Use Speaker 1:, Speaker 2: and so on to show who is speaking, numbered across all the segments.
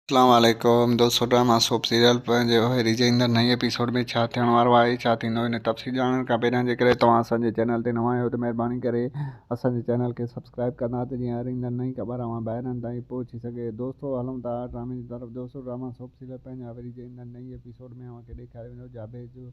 Speaker 1: اسلام عليڪم دوستو ڊراما سوپ سيريل پنهنجي هيري جي ايندڙ نئين ايپيسوڊ ۾ ڇا ٿيڻ وارو آهي ڇا ٿيندو هن تفصيل ڄاڻڻ کان پهريان جيڪڏهن توهان اسان جي چينل تي نوان آهيو ته مهرباني ڪري اسان جي چينل کي سبسڪرائب ڪندا ته جيئن هر ايندڙ نئين خبر اوهان ڀائرن تائين پهچي سگهي دوستو هلون ٿا ڊرامي جي طرف دوستو ڊراما سوپ سيريل پنهنجي هيري جي ايندڙ نئين ايپيسوڊ ۾ اوهان کي ڏيکاريو ويندو جابيز جو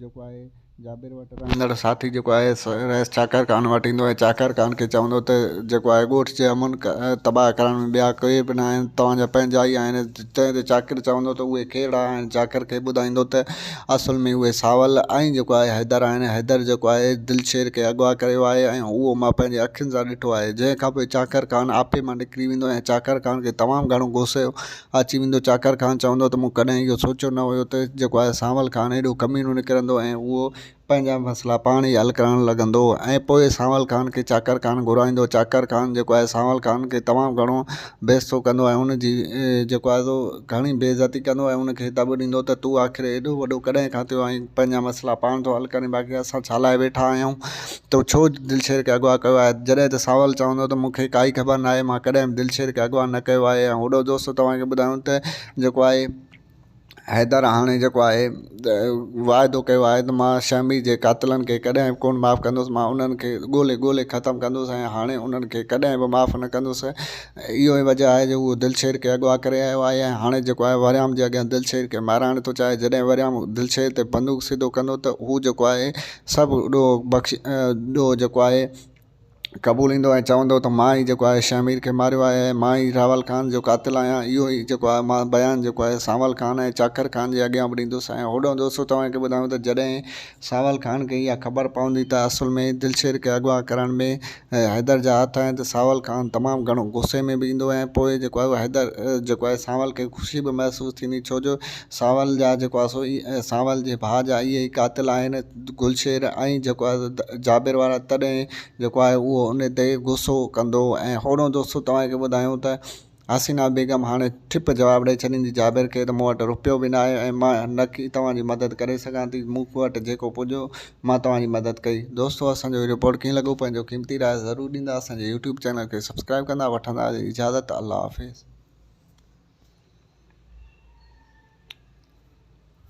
Speaker 1: جيڪو آهي جابر وٽ رهندڙ ساٿي جيڪو آهي سو رئيس چاڪر خان وٽ ايندو ۽ چاڪر خان کي چوندو ته جيڪو آهي ڳوٺ جي امن تباهه ڪرڻ ۾ ٻيا ڪي به نه آهن توهان جا پنهنجا ئي آهن تنهن تي چاڪر چوندو ته اهي ڪهڙا آهن چاڪر کي ٻڌائيندو ته اصل ۾ اهي ساول ۽ جيڪو آهي حيدر آهن حيدر جيڪو آهي دلشير کي اغوا ڪيو آهي ۽ اهو مان پنهنجي اکين سان ڏٺو آهي جنهن کانپوء چاڪر خان آپي مان نڪري ويندو ۽ چاڪر خان کي تمام گهڻو غصو اچي ويندو. چاڪر خان چوندو ته مون ڪڏهن اهو سوچيو نه هيو ته جيڪو آهي سانول خان ايڏو ڪميڻو نڪرندو ۽ اهو پنهنجا مسئلا پاڻ ئي حل ڪرڻ لڳندو ۽ پوء سانول خان کي چاڪر خان گهرائيندو. چاڪر خان جيڪو آهي سانول خان کي تمام گهڻو بي عزتو ڪندو ۽ ان جي جيڪو آهي سو گهڻي بي عزتي ڪندو ۽ ان کي دٻ ڏيندو ته تون آخر ايڏو وڏو ڪڏهن کان ٿيو آهين پنهنجا مسئلا پاڻ ٿو حل ڪرين باقي اسان ڇا لاء ويٺا آهيون. تو ڇو دلشير کي اغوا ڪيو آهي؟ جڏهن ته سانول چوندو ته مون کي ڪائي خبر ناهي، مان ڪڏهن به دلشير کي اغوا نه ڪيو آهي ۽ هوڏو دوستو توهان کي ٻڌايون ته جيڪو آهي حيدر هاڻي جيڪو آهي واعدو ڪيو آهي ته مان شهمي جي قاتلن کي ڪڏهن به ڪونه معاف ڪندس، مان انهن کي ڳولي ڳولي ختم ڪندس ۽ هاڻي انهن کي ڪڏهن به معاف نه ڪندس، اهو ئي وجهه آهي جو هو دلشير کي اغوا ڪري آيو آهي ۽ هاڻي جيڪو آهي وريام جي اڳيان دلشير کي مارائڻ ٿو چاهي، جڏهن وريام دلشير تي بندوق سڌو ڪندو ته هو جيڪو آهي سڀ ڏوهه بخش ڏوهه جيڪو آهي قبوليندو ۽ چوندو ته مان ئي جيڪو آهي شهه مير کي ماريو آهي ۽ مان ئي راول خان جو قاتل آهيان اهو ئي جيڪو آهي مان بيان جيڪو آهي سانول خان ۽ چاڪر خان جي اڳيان به ڏيندس ۽ هوڏانهن دوستو توهان کي ٻڌايون ته جڏهن سانول خان کي اها خبر پوندي ته اصل ۾ دلشير کي اغوا ڪرڻ ۾ ۽ حيدر جا هٿ آهن ته سانول خان تمام گهڻو غصي ۾ به ايندو آهي ۽ پوء جيڪو آهي حيدر جيڪو آهي سانول کي خوشي به محسوس ٿيندي ڇو جو سانول جا جيڪو آهي سو سانول جي ڀاء جا اهي ئي قاتل آهن گل شير ۽ جيڪو آهي جابر وارا تڏهن جيڪو آهي اهو ان تي غصو ڪندو ۽ هونئن دوستو توهان کي ٻڌايون ته حسينه بيگم هاڻي ٺپ جواب ڏئي ڇڏيندي، جابر کي ته مون وٽ رپيو به ناهي ۽ مان نڪ ئي توهان جي مدد ڪري سگهان ٿي. مون وٽ جيڪو پڄيو، مان توهان جي مدد ڪئي. دوستو اسان جو هي رپورٽ ڪيئن لڳو پنهنجو قيمتي راء ضرور ڏيندا اسان جي يوٽيوب چينل کي سبسڪرائيب ڪندا وٺندا اجازت الله حافظ.